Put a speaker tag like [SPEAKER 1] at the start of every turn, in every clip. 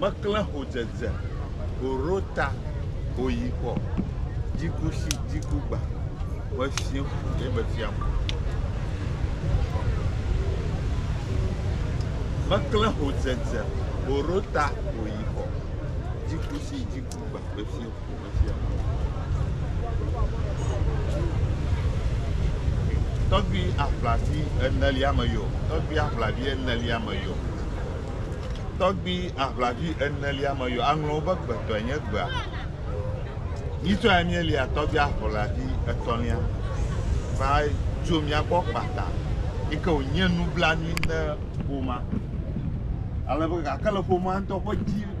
[SPEAKER 1] Meklẽ ho dzedze, ho ro ta, ho yi xɔ, dzi ku shi, dzi ku gba. Mefiẽ fu eye mefia mo. Meklẽ ho dzedze, ho ro ta, ho yi xɔ, dzi ku shi, dzi ku. Tɔgbui aʋlati enelia me yo, tɔgbui aʋlavi enelia me yo, tɔgbui aʋlavi enelia me yo, aŋlɔ wobe gbetɔe nye gbea. Nyitsɔe míelia tɔgbui aʋlavi etɔ̃lia va tso mía gbɔ kpata yi ke wònye nublanui na ƒomea. Ale be gake le ƒomea ŋutɔ ƒe dzi.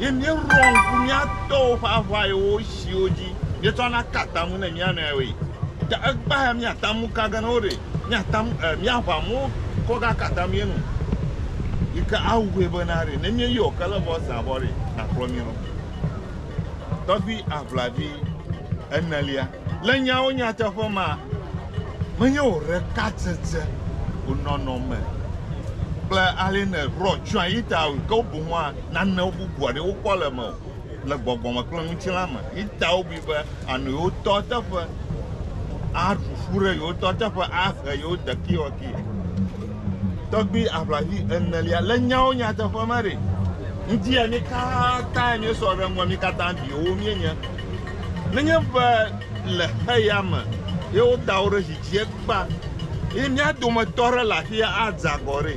[SPEAKER 1] Ye míeɖoa ŋku mía tɔwo ƒe aʋayewo siwo dzi míetsɔna kaa atam ŋu ne mía nɔewoe. Ta egbea míate ŋu ka ge ne woɖe míate ŋu e míaʋã mo kɔ gaka atam ye nu yi ke awɔe bena ɖe ne míeyɔ ke le vɔ zã vɔ ɖe, nakplɔ mí lɔ. tɔgbui aʋlavi enelia. Le nyawo nyateƒe ma, menye wò ɖekatsetse, wò nɔnɔme kple ale nèɖɔ tsyɔ̃a yi ta o, ke boŋua nane bubu aɖee wokpɔ le mewò le gbɔgbɔ me kple ŋutilã me. Yi ta wobui be ànɔ yewo tɔ teƒe, aɖu ƒu ɖe yewo tɔ teƒe, ahe yewo dekiwɔki. Tɔkpui aʋlavi enelia le nyawo nyateƒe me ɖe? Ŋutia mi katã miesɔ ɖe ŋgɔ, mi katã viwo mienye. Nenye be le xeya me ye woda wo ɖe zi dzie kpa ye mia dometɔ aɖe le afia adze agɔ ɖe,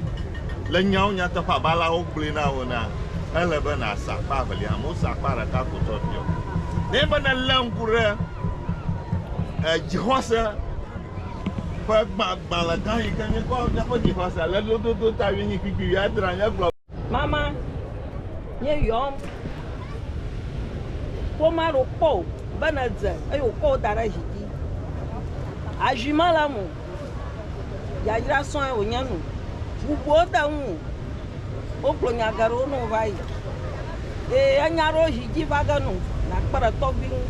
[SPEAKER 1] le nyawo nyateƒe abe aleawo gblɔe na wò enea, ele be nàsa akpa evelia hã. Wosa akpa ɖeka ko tsɔ biɔ. Nenye be nèlé ŋku ɖe dzixɔse, ƒe gbã, gbalẽ gã yi ke míekpɔ míaƒe dzixɔse le lododo ta wuienyi kpikpi wuiadre míegblɔ. Mama, nye yɔm. Ƒomea ɖewo kpɔ wò be nèdze eye wòkɔ wò da ɖe zi dzi. Azui mele eme o. Yayra sɔe wònye nu. Ʋu ƒo wo de ŋuwò. Wogblɔ nya geɖewo ne wova yi. Ye enya aɖewo zi dzi va ge nu. Nakpe ɖe tɔgbui ŋu.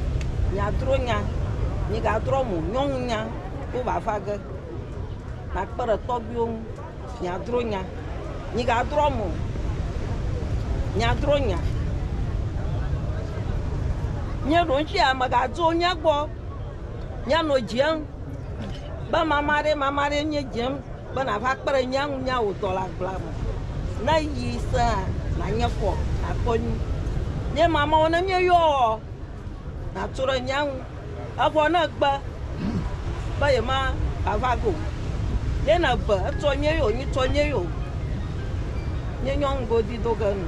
[SPEAKER 1] Miadro nya. Migadrɔ mo. Nyɔnunya wo va va ge. Nakpe ɖe tɔgbuiwo ŋu. Miadro nya. Migadrɔ mo. Miadro nya. Míeɖo ŋuti ame gadzo mía gbɔ. Míanɔ dzem be mama ɖe mama ɖe míedzem. be nàva kpe ɖe nya ŋu nyawòtɔ le agblea me. Ne yi sẽa, nànye kɔ, nàkpɔ nyui. Nye mamɔ̃ ne míeyɔɔ, nàtso ɖe nya ŋu. Evɔ ne ègbe be yemagava ge o, ye nèbe etsɔ nye yo, nyitsɔ nye yo, nye nyɔnu godi do ge nu.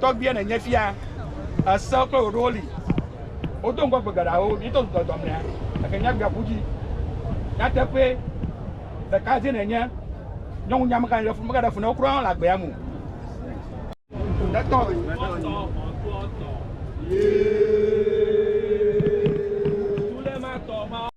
[SPEAKER 1] Tɔgbuia nènye fia, èsewo kple wò ɖowo li. Wodo ŋgɔ gbe geɖeawo, míeto zu dɔdɔ mea, gake míagbea ƒu dzi. Nyateƒee, ɖeka dzie nènye, nyɔŋunya megale ɖe fu, megaɖe fu na wò kura hã le agbea me o. Nètɔ ɣi.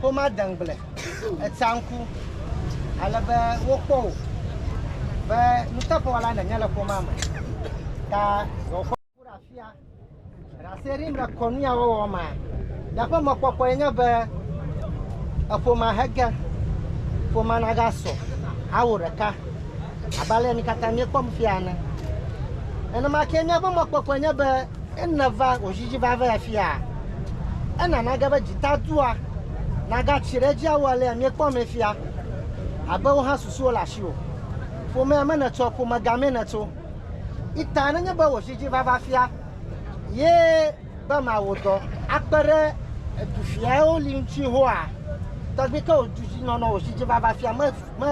[SPEAKER 1] Xoma deŋgble etsanku ale be wokpɔ wò be nuteƒewɔla nènye le xoma me ta wòakpɔ ku ɖe afia. Ɖaserim le kɔnu ya wɔwɔ mea, nye ƒe mɔkpɔkpɔe nye be eƒomea hege, ƒomea nagasɔ awu ɖeka abe ale yi mi katã miekpɔm fia ene. Nenema ke míaƒe mɔkpɔkpɔe nye be. Ena va ɣejiɣi va ve afia. Ena nage be dzita dua naga tsi ɖe edzi awu alea mie kpɔ me fia abe wo hã susuwo le asiwò. Ƒomea me nètso a ƒome ga mee nètso. Ita nenye be ɣejiɣi va va fia ye be ma wo dɔ akpe ɖe edu fiawo li ŋtsi hoa, tɔgbi ke wo du dzi nɔnɔ ɣejiɣi va va fia me me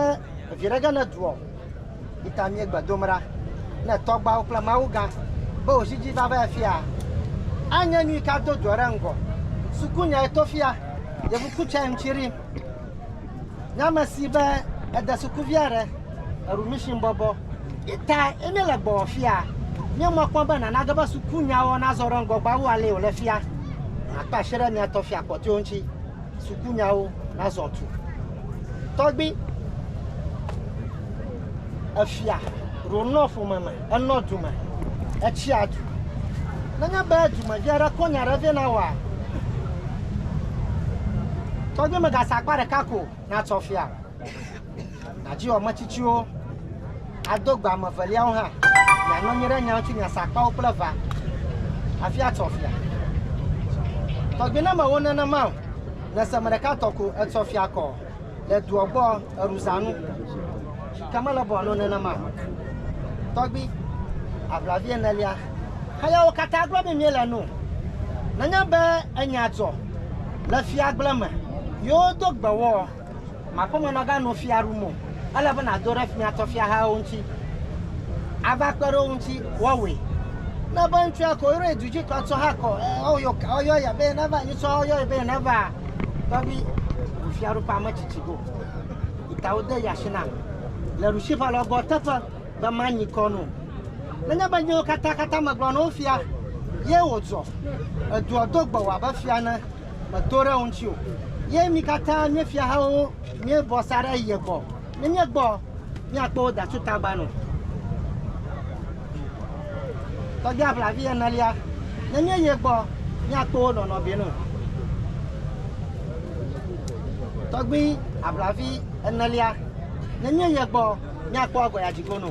[SPEAKER 1] viɖe ge ne dua o. Yi ta míegbe dom ɖa ne tɔgbuawo kple Mawu gã be wòzi dzi va va afia. Anye nu yi ke ado dua ɖe ŋgɔ. Sukunyae to fia Yevu Kutsai ŋuti ɖi. Nye ame si be ede sukuvia ɖe eɖu mission bɔbɔ. Yi ta ye míele gbɔwɔ fia. Míe mɔ kpɔm be nana ge be sukunyawɔ nazɔ ɖe ŋgɔ gbɔ wu ale yi wòle fia. Makpe asi ɖe mía tɔ fia kpɔtɔewo ŋuti. Sukunyawo nazɔ tu. Tɔgbi efia ɖonɔ ƒome me, enɔ du me, etsia du. Nenye be dumevi aɖe kɔ nya aɖe vɛ na wòa, tɔgbi megase akpa ɖeka ko natsɔ fia. Nàdziwɔ metsitsiwo, ado gbe ame eveliawo hã, mianɔ anyi ɖe nya ŋuti, miasa akpawo kple ʋa hafi atsɔ fia. Tɔgbi ne mewɔ nenema o, nèse me ɖeka tɔ ko etsɔ fia kɔ le dua gbɔ eɖuzãnu, ke mele be wòanɔ nenema o. Tɔgbi, aʋlavi enelia. Hayawo katã gblɔ be míele nu. Nenye be enya dzɔ le fiagble me, yewodo gbe wɔ. Màkpɔmenɔga nɔ fia ɖum o. Ele be nàdo ɖe fia tɔ fiahawo ŋuti ava kpe ɖe wo ŋuti woawɔe. Ne be ŋutsua ko yɔe du dzi kɔ tsɔ ha kɔ e woyɔ ka woyɔ ya be neva yi tsɔ woyɔe be neva tɔgbi bu fiaɖuƒe ame tsitsi go ta wode yi asi nam le ɖusi ƒe alɔgbɔ teƒe be manyi kɔ nu nenye be nyewo katã katã megblɔ na wo fia ye wòdzɔ edua do gbɔwò abe fia ne medo ɖe wo ŋuti o. Ye mi katã mie fiahawo miebɔ sa ɖe ye gbɔ. Ne míegbɔ, míakpɔ wo da tso tagba nu. Tɔgbia ʋlavi enelia, ne míeyi ye gbɔ, míakpɔ wo nɔnɔ bi nu. Tɔgbui aʋlavi enelia, ne míeyi ye gbɔ, míakpɔ agɔya dzigo nu.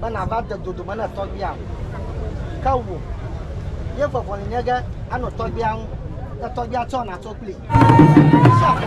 [SPEAKER 1] be nàva de dodome ne tɔgbuia ŋu. Ke wò, ye vɔvɔli nye ge anɔ tɔgbuia ŋu, ne tɔgbuia tsɔ nàtso kplii. Sia ƒe